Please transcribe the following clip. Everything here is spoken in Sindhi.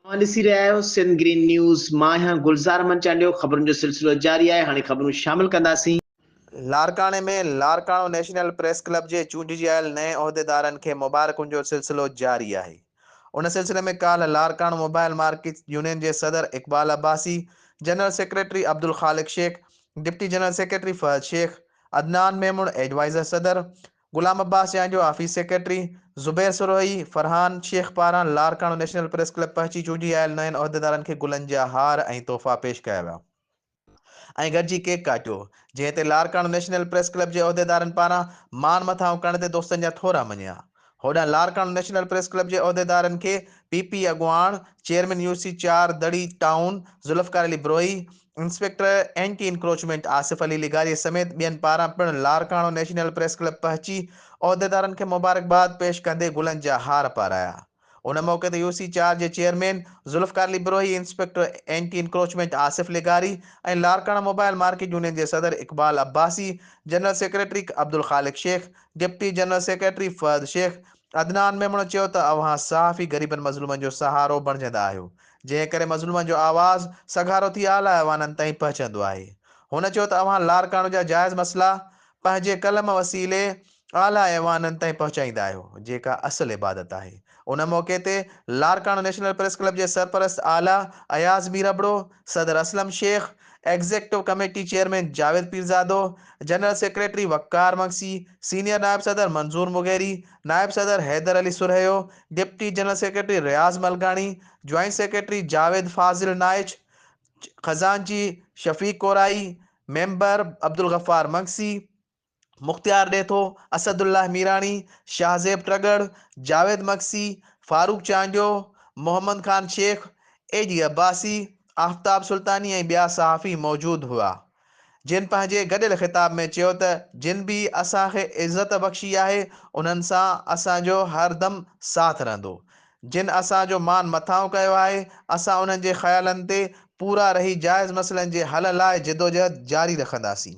اوهان ڏسي رهيا آهيو سنڌ گرين نيوز مان آهيان گلزار احمد چانڊيو خبرن جو سلسلو جاري آهي هاڻي خبرون شامل ڪنداسين. لاڙڪاڻي ۾ لاڙڪاڻو نيشنل پريس ڪلب جي چونڊجي آيل نئين عهديدارن کي مبارڪن جو سلسلو جاري آهي ان سلسلي ۾ ڪالهه لاڙڪاڻو موبائل مارڪيٽس يونين جي صدر Iqbal Abbasi general secretary Abdul Khaliq Shaikh deputy general secretary Fahad Shaikh Adnan Memon adviser صدر غلام عباس جان جو آفيس سيڪريٽري زبير سروهي، فرحان شيخ پاران لاڙڪاڻو نيشنل پريس ڪلب پهچي چونڊي آيل نين عهديدارن کي گلن جا هار ۽ تحفا پيش ڪيا ويا ۽ گڏجي ڪيڪ ڪاٽيو جنهن تي لاڙڪاڻو نيشنل پريس ڪلب جي عهديدارن پاران ماڻ مٿاهون ڪرڻ تي دوستن جا ٿورا مڃيا هوڏانهن لاڙڪاڻو نيشنل پريس ڪلب جي عهديدارن کي پي پي اڳواڻ چيئرمين يو سي چار دڙي town Zulfiqar Ali Brohi, inspector anti encroachment Asif Ali لغاري سميت ٻين پاران پڻ لاڙڪاڻو نيشنل پريس ڪلب پهچي عهديدارن کي مبارڪباد پيش ڪندي گلن جا هار پارايا. ان موقعي تي يو سي چار جي chairman Zulfiqar Ali Brohi, inspector anti encroachment Asif لغاري ۽ لاڙڪاڻو موبائل مارڪيٽ يونين جي صدر Iqbal Abbasi, general secretary Abdul Khaliq Shaikh, deputy general secretary Fahad Shaikh, Adnan ميمڻو چيو ته اوهان صحافي غريبن مظلومن جو سهارو بڻجندا آهيو، جنهن ڪري مظلومن جو آواز سگهارو ٿي اعليٰ ايوانن تائين پهچندو آهي. هن چيو ته اوهان لاڙڪاڻو جا جائز مسئلا پنهنجي قلم وسيلي اعليٰ ايوانن تائين پهچائيندا آهيو، جيڪا اصل عبادت آهي. ان موقعي تي لاڙڪاڻو نيشنل پريس ڪلب جي سرپرست اعليٰ اياز مير ابڙو، صدر Aslam Shaikh, executive committee chairman Javed Pirzado, general secretary Waqar Magsi, senior نائب صدر منظور مغيري، نائب صدر Haider Ali Sarhio, deputy general secretary Riaz Malkani, joint secretary Javed Fazil Naich, خزانچي Shafiq Korai, member Abdul Ghaffar Magsi, Mukhtiar Detho, Asadullah Mirani, Shahzeb Tagar, Javed Magsi, Farooq Chandio, Muhammad Khan Shaikh, A D Abbasi, Aftab Sultani ۽ ٻيا صحافي موجود هئا. جن پنهنجي گڏيل خطاب ۾ چيو ته جن به اسان کي عزت بخشي آهي انهن سان اسان جو هر دم ساٿ رهندو، جن اسان جو مان مٿانهون ڪيو آهي اسان انهن جي خيالن تي پورا رهي جائز مسئلن جي حل لاء جدوجهد جاري رکنداسين.